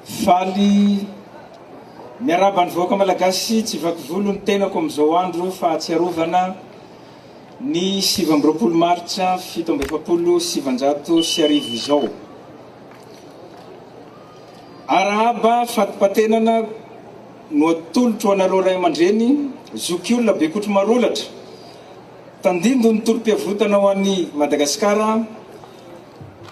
Faly miarahaba ny vahoaka Malagasy tsy vaky volo ny tenako amin'izao andro fahatsiarovana ny sivy amby roapolo martsa fito amby efapolo sy sivanjato sy arivo izao. Arahaba fatipatenana no atolotro anareo ray aman-dreny, zokiolona Bekotromarolatra, tandindon'ny tolom-piavotana ho an'i Madagasikara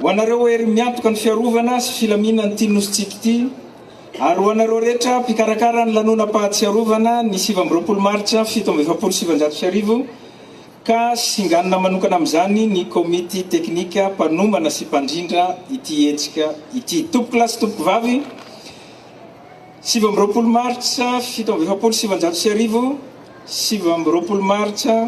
Ho anareo hery miantoka ny fiarovana sy filaminan'ity nosintsika ity ary ho anareo rehetra mpikarakara ny lanonam-pahatsiarovana ny sivy amby roapolo martsa fito amby efapolo sy sivinjato sy arivo ka singanina manokana amin'izany ny komity teknika mpanomana sy mpandrindra ity hetsika ity. Tompokolahy sy tompokovavy, sivy amby roapolo martsa fito amby efapolo sy sivinjato sy arivo, sivy amby roapolo martsa.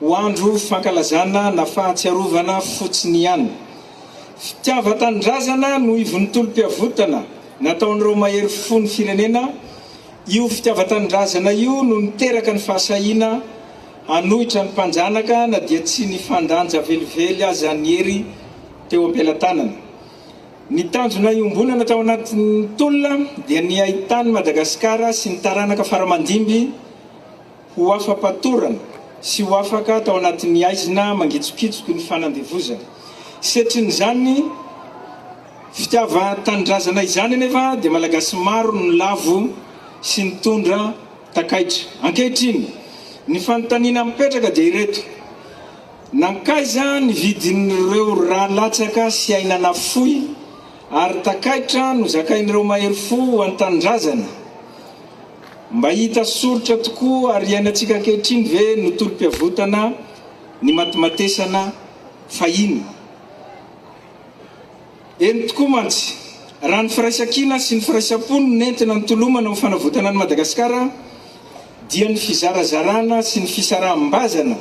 Ho andro fankalazana na fahatsiarovana fotsiny ihany. Fitiavan-tanindrazana no ivon'ny tolom-piavotana nataon'ireo mahery fo ny firenena, io fitiavan-tanindrazana io no niteraka ny fahasahiana hanohitra ny mpanjanaka na dia tsy nifandanja velively aza ny hery teo am-pelatanana. Ny tanjona iombonana tao anatin'ny tolona dia ny hahitan'i Madagasikara sy ny taranaka fara-mandimby, ho afa-patorana sy ho afaka tao anatin'ny haizina mangitsokitsoky ny fanandevozana. Setrin'izany fitiavan-tanindrazana izany anefa dia Malagasy maro no nilavo sy nitondra takaitra. Ankehitriny, ny fanontaniana mipetraka dia ireto, nankaiza ny vidin'ireo ra latsaka sy aina nafoy ary takaitra nozakain'ireo mahery fo ho an-tanindrazana? Mba hita soritra tokoa ary iainantsika ankehitriny ve no tolom-piavotana ny matimatesana fahiny? Eny tokoa mantsy! Raha ny firaisankina sy ny firaisam-po no nentina nitolomana ho fanavotana an'i Madagasikara dia ny fizarazarana sy ny fisaraham-bazana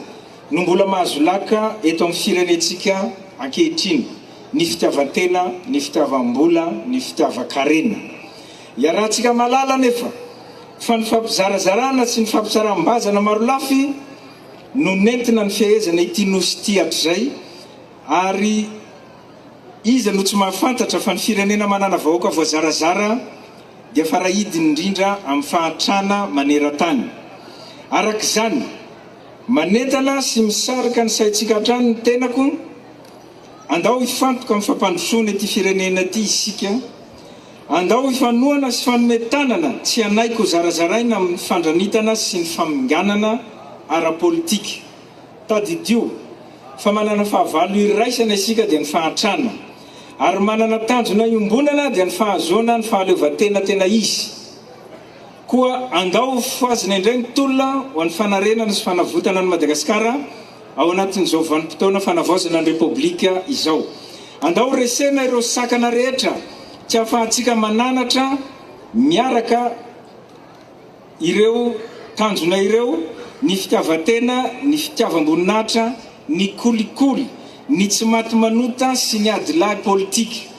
no mbola mahazo laka eto amin'ny firenentsika ankehitriny, ny fitiavan-tena, ny fitiavam-bola, ny fitiavan-karena. Iarahantsika mahalala anefa fa ny fampizarazarana sy ny fampisaram-bazana marolafy no nentina nifehezana ity Nosy ity hatrizay ary iza no tsy mahafantatra fa ny firenena manana vahoaka voazarazara dia farahidiny indrindra amin'ny fahantrana maneran-tany. Araka izany, manentana sy misarika ny saintsika hatrany ny tenako, andao hifantoka amin'ny fampandrosoana ity firenena ity isika, Andao hifanohana sy fanome tanana tsy hanaiky ho zarazaraina amin'ny fandranitana sy ny faminganana ara-politika. Tadidio fa manana fahavalo iraisana isika dia ny fahantrana, ary manana tanjona iombonana dia ny fahazoana ny fahaleovantena tena izy. Koa andao ho fohazina indray ny tolona ho an'ny fanarenana sy fanavotana an'i Madagasikara ao anatin'izao vanim-potoana fanavaozana ny Repoblika izao. Andao ho resena ireo sakana rehetra tsy ahafahantsika mananatra miaraka ireo tanjona ireo, ny fitiavan-tena, ny fitiavam-boninahitra, ny kolikoly, ny tsy maty manota sy ny adilahy politika.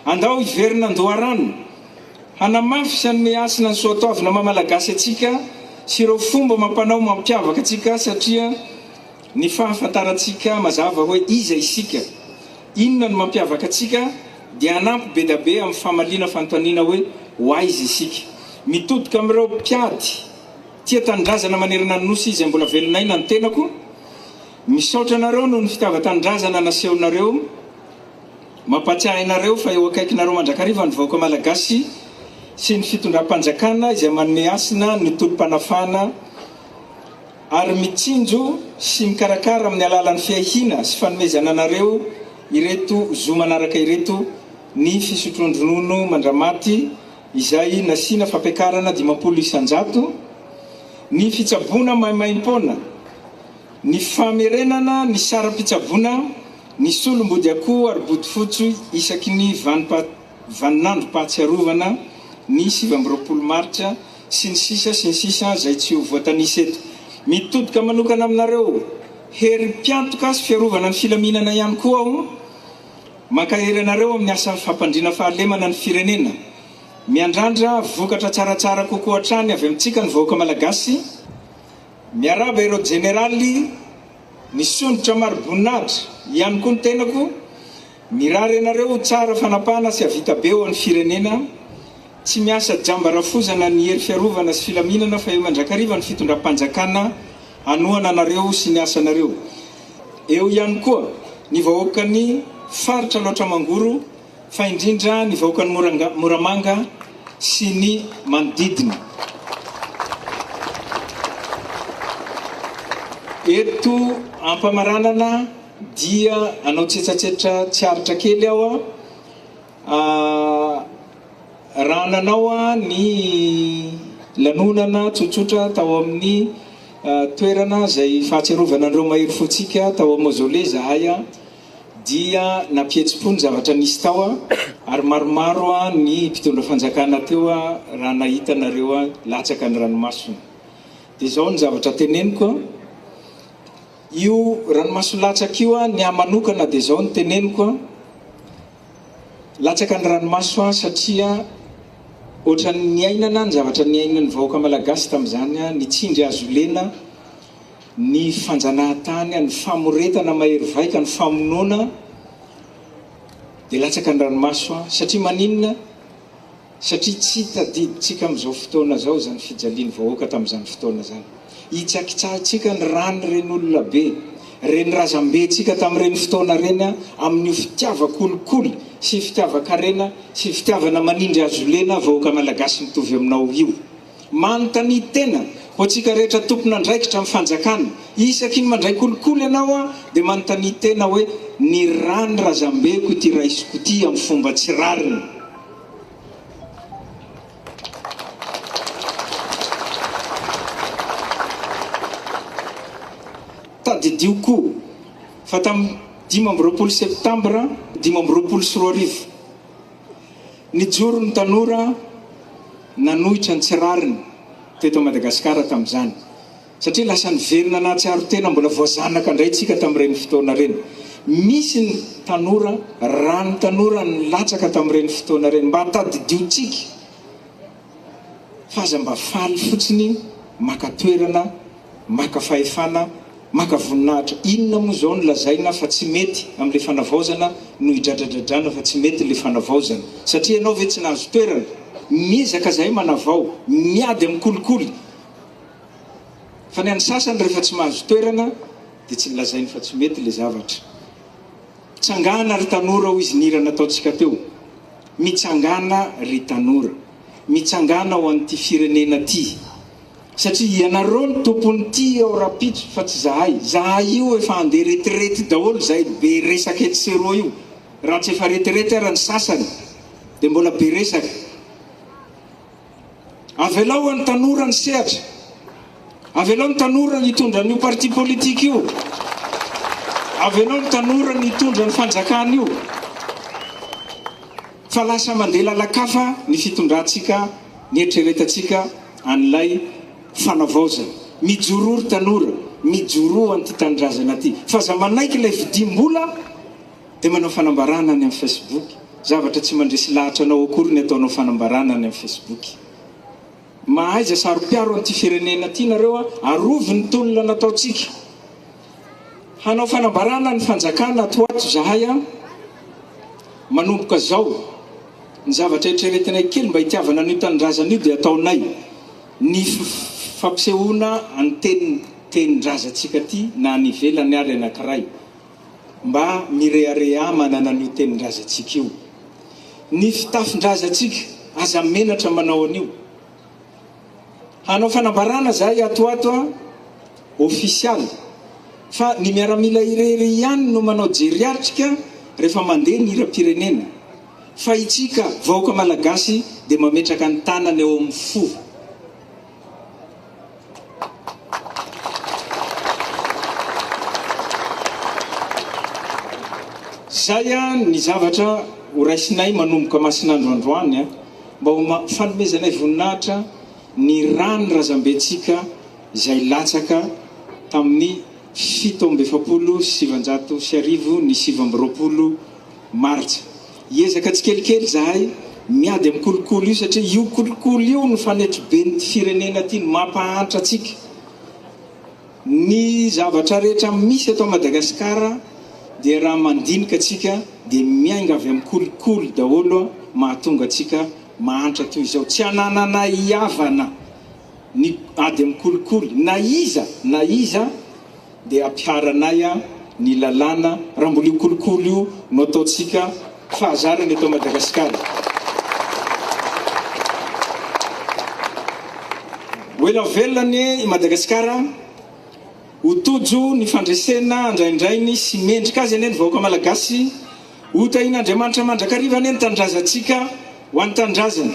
Andao hiverina an-doharano. Hanamafy sy hanome hasina ny soatoavina maha Malagasy antsika sy ireo fomba amam-panao mampiavaka antsika satria ny fahafantarantsika mazava hoe iza isika, inona no mampiavaka antsika dia hanampy be da be amin'ny famaliana fanontaniana hoe ho aiza isika. Mitodika amin'ireo mpiady tia tanindrazana manerana ny Nosy izay mbola velona aina ny tenako. Misaotra anareo noho ny fitiavan-tanindrazana nasehonareo. Mampatsiahy anareo fa eo akaikinareo mandrakariva ny vahoaka Malagasy sy ny fitondram-panjakana izay manome hasina ny tolom-panafahana ary mitsinjo sy mikarakara amin'ny alalan'ny fiahiana sy fanomezana anareo ireto zo manaraka ireto ny fisotroan-dronono mandramaty izay nasiana fampiakarana dimampolo isan-jato ny fitsaboana maimaim-poana Ny famerenana ny saram-pitsaboana ny solombodiakoho ary bodofotsy isaky ny vaninandrom-pahatsiarovana ny sivy amby roapolo martsa sy ny sisa sy ny sisa izay tsy ho voatanisa eto. Mitodika manokana aminareo hery mpiantoka sy fiarovana ny filaminana ihany koa aho. Mankahery anareo amin'ny asa fampandriana fahalemana ny firenena. Miandrandra vokatra tsaratsara kokoa hatrany avy amintsika ny vahoaka Malagasy. Miarahaba ireo jeneraly nisondrotra mari-boninahitra, ihany koa ny tenako, mirary anareo ho tsara fanapahana sy havita be ho an'ny firenena, tsy miasa jamba rafozana ny hery fiarovana sy filaminana fa eo mandrakariva ny fitondram-panjakana hanohana anareo sy ny asanareo, eo ihany koa ny vahoakan'ny faritra Alaotra Mangoro, fa indrindra ny vahoakan'i Moramanga sy ny manodidina. Eto am-pamaranana dia hanao tsetsatsetra tsy aritra kely aho raha nanao ny lanonana tsotsotra tao amin'ny toerana izay fahatsiarovana an'ireo mahery fontsika tao amin'ny Mausolée izahay. dia nampihetsi-po ny zavatra nisy tao ary maromaro ny mpitondra fanjakana teo raha nahita anareo latsaka ny ranomasony. Dia izao ny zavatra teneniko, io ranomaso latsaka io ny ahy manokana dia izao no teneniko, latsaka ny ranomaso satria ohatran'ny niainana ny zavatra niainan'ny vahoaka malagasy tamin'izany, nitsindry hazolena, ny fanjanahantany, ny famoretana mahery vaika, ny famonoana dia latsaka an-dranomaso satria maninona? Satria tsy tadidintsika amin'izao fotoana izao izany fijalian'ny vahoaka tamin'izany fotoana izany. Hitsakitsahintsika ny ran'ireny olona be, ireny razambentsika tamin'ireny fotoana ireny amin'io fitiavan-kolikoly sy fitiavan-karena sy fitiavana manindry hazolena vahoaka malagasy mitovy aminao io. Manontania tena, ho antsika rehetra tompon'andraikitra amin'ny fanjakana, isaky ny mandray kolikoly ianao aho dia manontania tena hoe ny ràn'ny razambeko ity raisiko ity amin'ny fomba tsy rariny? Tadidio koa fa tamin'ny dimy amby roapolo septambra dimy amby roapolo sy roa arivo, Nijoro ny tanora nanohitra ny tsy rariny teto Madagasikara tamin'izany satria lasa niverina nahatsiaro tena mbola voazanaka indray tsika tamin'ireny fotoana ireny. Misy ny tanora, ra ny tanora nilatsaka tamin'ireny fotoana ireny mba tadidio tsika fa aza mba faly fotsiny maka toerana Maka fahefana, maka voninahitra. Inona moa izao no lazaina fa tsy mety amin'ilay fanavaozana no hidradradradrana fa tsy mety ilay fanavaozana? Satria ianao ve tsy nahazo toerana? Miezaka izahay manavao, miady amin'ny kolikoly, fa ny an'ny sasany rehefa tsy mahazo toerana dia tsy lazainy fa tsy mety ilay zavatra. Tsangana ry tanora hoy izy ny hira nataontsika teo. Mitsangana ry tanora. Mitsangana ho an'ity firenena ity. Satria ianareo no tompony ty ao rapitso fa tsy zahay. Zahay io efa andeha retirety daholo zay be resaka etsy sy eroa io. Raha tsy efa retirety ara ny sasany dia mbola be resaka. Avelao any tanora ny sehatra. Avelao ny tanora ny hitondra an'io parti politique io. Avelao ny tanora ny hitondra ny fanjakana io. Fa lasa mandeha lalan-kafa ny fitondrantsika, nieritreretantsika an'ilay fanavaozana. Mijoroa ry tanora, mijoroa an'ity tanindrazana ity. Fa aza manaiky ilay vidiam-bola dia manao fanambarana any amin'ny Facebook. Zavatra tsy mandresy lahatra anao akory ny ataonao fanambarana any amin'ny Facebook. Mahaiza saropiaro an'ity firenena ity nareo a! Arovy ny tolona nataontsika. Hanao fanambarana ny fanjakana ato ho ato zahay a! Manomboka zao, ny zavatra eritreretinay kely mba hitiavana an'io tanindrazana io dia ataonay ny fampisehoana an'ny tenin-drazantsika aty na any ivelany ary anankiray. Mba mirehareha manana an'io tenin-drazantsika io. Ny fitafin-drazantsika, aza menatra manao an'io. Hanao fanambarana zahay ato ato an, ofisialy, fa ny miaramila irery ihany no manao jeriatrika rehefa mandeha ny hiram-pirenena, fa itsika vahoaka malagasy dia mametraka ny tanana eo amin'ny fo. Izay ny zavatra horaisinay manomboka masin'andro androany mba ho fanomezanay voninahitra ny ran'ny razambentsika izay latsaka tamin'ny fito amby efapolo sy sivinjato sy arivo ny sivy amby roapolo martsa. Hiezaka tsikelikely izahay miady amin'ny kolikoly io satria io kolikoly io no fanetriben'ity firenena ity no mampahantra antsika. Ny zavatra rehetra misy eto Madagasikara dia raha mandinika antsika dia miainga avy amin'ny kolikoly daholo mahatonga antsika mahantra toy izao. Tsy anananay hihavana ny ady amin'ny kolikoly na iza na iza Ndeha hampiharanay aho ny lalàna raha mbola io kolikoly io no ataontsika fahazarana eto Madagasikara. Ho ela velona anie i Madagasikara a! Ho tojo ny fandresena andraindrainy sy mendrika azy anie ny vahoaka Malagasy. Ho tahian'Andriamanitra mandrakariva anie ny tanindrazantsika ho an'ny tanindrazana.